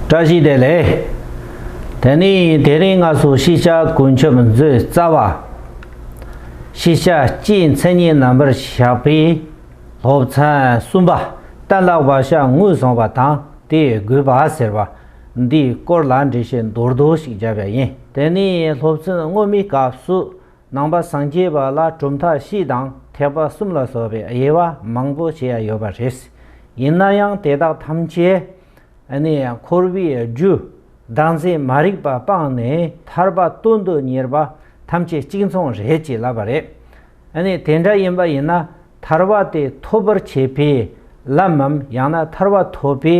བཀྲ་ཤིས་བདེ་ལེགས། དེ་ནས་དེ་རིང་སྔ་སོར་ཤེས་བྱ་ཀུན་ཁྱབ་མཛོད་རྩ་བ། ཤེས་བྱ་སྤྱིའི་མཚན་ཉིད་རྣམ་པར་བཞག་པའི་སློབ་ཚན་གསུམ་པ་གཏན་ལ་བ་ཤ་ངུས་བཟུང་བ་དང་དེའི་དགོས་པ་ཟེར་བ་འདིའི་སྐོར་ལ་འགྲེལ་བཤད་མདོར་བསྡུས་ཤིག་བརྒྱབ་པ་ཡིན། དེ་ནས་སློབ་ཚན་སྔོན་མའི་སྐབས་སུ་ནང་པ་སངས་རྒྱས་པ་ལ་གྲུབ་མཐའ་བཞི་དང་ཐེག་པ་གསུམ་ལ་སོགས་པའི་དབྱེ་བ་མང་པོ་བྱས་ཡོད་པ་རེད། ཡིན་ན་ཡང་དེ་དག་ཐམས་ཅད་ནས་ཡང་འཁོར་བའི་རྒྱུ་བདག་འཛིན་མ་རིག་པ་སྤངས་ནས་ཐར་པ་སྟོན་དུ་གཉེར་བ་ཐམས་ཅད་གཅིག་མཚུངས་རེད་ཅེས་ལབ་པ་རེད། ནས་དེ་འདྲ་ཡིན་པ་ཡིན་ན་ཐར་བ་དེ་ཐོབ་པར་བྱེད་པའི་ལམ་མམ་ཡང་ན་ཐར་བ་ཐོབ་པའི་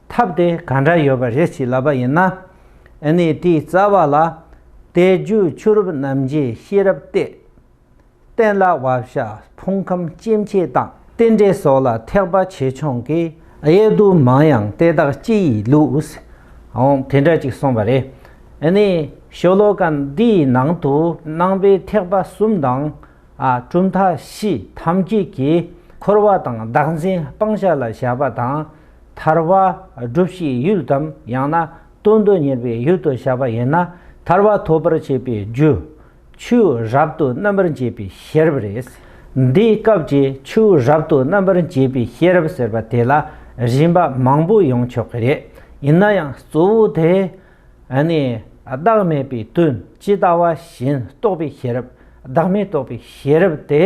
ཐབས་དེ་ག་འདྲ་ཡོད་པ་རེད་ཅེས་ལབ་པ་ཡིན་ན། ནས་དེའི་རྩ་བ་ལ། བལྟས་རྒྱུ་ཆུ་རུབ་རྣམ་འབྱེད་ཤེས་རབ་བལྟས། བསྟན་ལ་བག་ཞགས་ཕུང་ཁམས་སྐྱེ་མཆེད་དང། རྟེན་འབྲེལ་སོགས་ལ་ཐེག་པ་ཆེ་ཆུང་གི་དབྱེ་བསྡུ་མང་ཡང་དེ་དག་སྤྱི་ཡི་ལུགས། འོང་དེ་འདྲ་ཅིག་གསུངས་པ་རེད། ནི། ཤོ་ལོ་ཀ་འདིའི་ནང་དུ་སྣང་བའི་ཐེག་པ་གསུམ་དང། གྲུབ་མཐའ་བཞི་ཐམས་ཅད་ཀྱི་འཁོར་བ་དང་བདག་འཛིན་སྤང་བྱ་ལ་བྱ་བ་དང། ཐར་བ་སྒྲུབ་བྱེད་ཡུལ་དམ་ཡང་ན་དོན་དུ་གཉེར་བའི་ཡུལ་དུ་བྱ་བ་ཡིན་ན་ཐར་བ་ཐོབ་པར་བྱེད་པའི་རྒྱུ། ཆུ་རབ་ཏུ་རྣམ་པར་འབྱེད་པའི་ཤེས་རབ་རེད། འདིའི་སྐབས་ཀྱི་ཆུ་རབ་ཏུ་རྣམ་པར་འབྱེད་པའི་ཤེས་རབ་ཟེར་བ་དེ་ལ་རིམ་པ་མང་པོ་ཡོང་ཆོག་གི་རེད། ཡིན་ན་ཡང་གཙོ་བོ་དེ་ནི་བདག་མེད་པའི་དོན་ཇི་ལྟ་བ་བཞིན་རྟོགས་པའི་ཤེས་རབ་བདག་མེད་རྟོགས་པའི་ཤེས་རབ་དེ་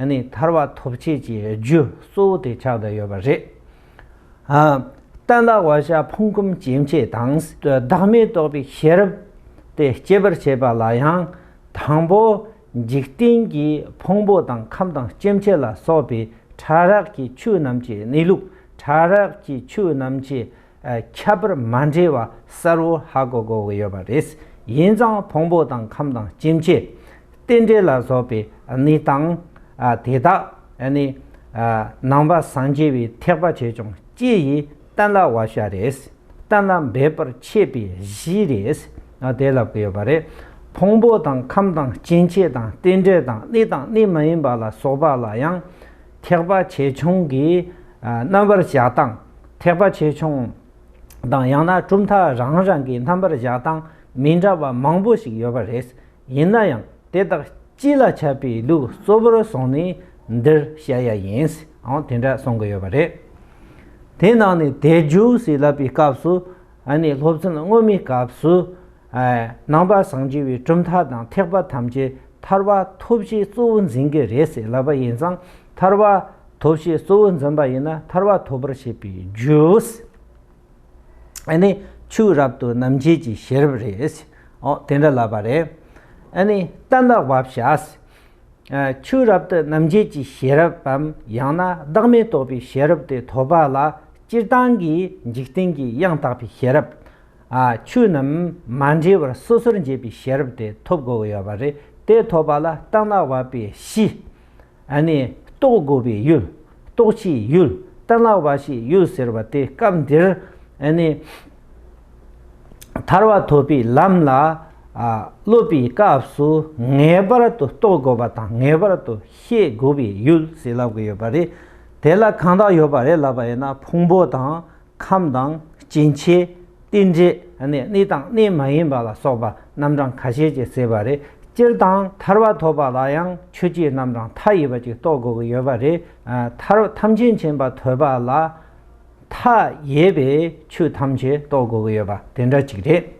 ནི་ཐར་བ་ཐོབ་བྱེད་ཀྱི་རྒྱུ་གཙོ་བོ་དེ་ཆགས་བསྡད་ཡོད་པ་རེད། བརྟན་བདག་བ་ཤ་ཕུང་ཁམས་སྐྱེ་མཆེད་དང། བདག་མེད་རྟོགས་པའི་ཤེས་རབ་དེ་སྐྱེད་པར་བྱེད་པ་ལ་ཡང་དང་པོ་འཇིག་རྟེན་གྱི་ཕུང་པོ་དང་ཁམས་དང་སྐྱེ་མཆེད་ལ་སོགས་པའི་ཕྲ་རགས་ཀྱི་ཆོས་རྣམས་ཀྱི་གནས་ལུགས་ཕྲ་རགས་ཀྱི་ཆོས་རྣམས་ཀྱི་ཁྱད་པར་མ་འདྲེས་པ་གསལ་བོ་ཧ་གོ་གོ་གི་ཡོད་པ་རེད། ཡིན་ཙང་ཕུང་པོ་དང་ཁམས་དང་སྐྱེ་མཆེད། རྟེན་འབྲེལ་ལ་སོགས་པའི་གནས་སྟངས་དེ་དག། ནི། ནང་པ་སངས་རྒྱས་པའི་ཐེག་པ་བྱས་ཀྱང་སྐྱེ་ཡི་གཏན་ལ་བ་ཤ་རེས་གཏན་ལ་འབེབས་པར་ཆད་པའི་གཞི་རེས་དེ་ལ་བརྐོས་པ་རེད། ཕུང་པོ་དང་ཁམས་དང་སྐྱེ་མཆེད་དང་རྟེན་འབྲེལ་དང་གནས་དང་གནས་མ་ཡིན་པ་ལ་སོགས་པ་ལ་ཡང་ཐེག་པ་ཆེ་ཆུང་གིས་རྣམ་པར་གཞག་སྟངས་ཐེག་པ་ཆེ་ཆུང་དང་ཡང་ན་གྲུབ་མཐའ་རང་རང་གི་རྣམ་པར་གཞག་སྟངས་མི་འདྲ་བ་མང་པོ་ཞིག་ཡོད་པ་རེད། ཡིན་ན་ཡང་དེ་དག་སྤྱི་ལ་ཁྱབ་པའི་ལུགས་གཙོ་བོར་བཟུང་ནས་འདིར་བཤད་ཡ་ཡིན། ཨང་དེ་འདྲ་གསུང་གི་ཡོད་པ་རེད། དེའི་ནང་ནས་དལ་འབྱོར་ཟེར་ལབ་པའི་སྐབས་སུ་ཨ་ནི་སློབ་ཚན་སྔོན་མའི་སྐབས་སུ། ནང་པ་བཟང་རྒྱལ་བའི་གྲུབ་མཐའ་དང་ཐེག་པ་ཐམས་ཅད་ཐར་བ་ཐོབ་བྱེད་གཙོ་བོ་འཛིན་གྱི་རེད་ཟེར་ལབ་པ་ཡིན་ཙང་ཐར་བ་ཐོབ་བྱེད་གཙོ་བོ་འཛིན་པ་ཡིན་ན་ཐར་བ་ཐོབ་པར་བྱེད་པའི་རྒྱུ། ཨཱ་ནི། ཆུ་རབ་ཏུ་རྣམ་འབྱེད་ཀྱི་ཤེས་རབ་རེད། ཨོ། དེ་འདྲ་ལབ་པ་རེད། ཨཱ་ནི། རྟ་འདག་བབ་བྱ། ཆུ་རབ་ཏུ་རྣམ་འབྱེད་ཀྱི་ཤེས་རབ་བམ་ཡང་ན་བདག་མེད་རྟོགས་པའི་ཤེས་རབ་དེ་ཐོབ་པ་ལ་སྤྱིར་བཏང་གི་འཇིག་རྟེན་གྱི་དབྱངས་དག་པའི་ཤེས་རབ། ཨཱ། ཆོས་རྣམས་མ་འདྲེས་པར་སོ་སོར་འབྱེད་པའི་ཤེས་རབ་དེ་ཐོབ་དགོས་ཀྱི་ཡོད་པ་རེད། དེ་ཐོབ་པ་ལ་རྟ་འདག་བབ་པའི་གཞི། ཨ་ནི་རྟོགས་དགོས་པའི་ཡུལ་རྟོགས་བྱའི་ཡུལ་གཏན་ལ་བ་ཞིག་ཡོད་ཟེར་བ་དེ་སྐབས་འདིར་ཨ་ནི་ཐར་བ་ཐོབ་པའི་ལམ་ལ་སློབ་པའི་སྐབས་སུ་ངེས་པར་དུ་རྟོགས་དགོས་པ་དང་ངེས་པར་དུ་ཤེས་དགོས་པའི་ཡུལ་ཞིག་ལབ་དགོས་ཡོད་པ་རེད། དེ་ལ་གང་དག་ཡོད་པ་རེད་ལབ་པ་ཡིན་ན་ཕུང་པོ་དང་ཁམས་དང་སྐྱེ་མཆེད་རྟེན་འབྲེལ་ནི་གནས་དང་གནས་མ་ཡིན་པ་ལ་སོགས་པ་རྣམ་གྲངས་ཁ་ཤས་ཀྱིས་བསྲེས་པ་རེད། སྤྱིར་བཏང་ཐར་བ་ཐོབ་པ་ལ་ཡང་ཆོས་སྤྱིའི་རྣམ་གྲངས་མཐའ་ཡས་པ་ཅིག་རྟོགས་དགོས་ཀྱི་ཡོད་པ་རེད། ཐར་བ་ཐམས་ཅད་མཁྱེན་པ་ཐོས་པ་ལ་མཐའ་ཡས་པའི་ཆོས་ཐམས་ཅད་རྟོགས་དགོས་ཀྱི་ཡོད་པ་དེ་འདྲ་ཅིག་རེད།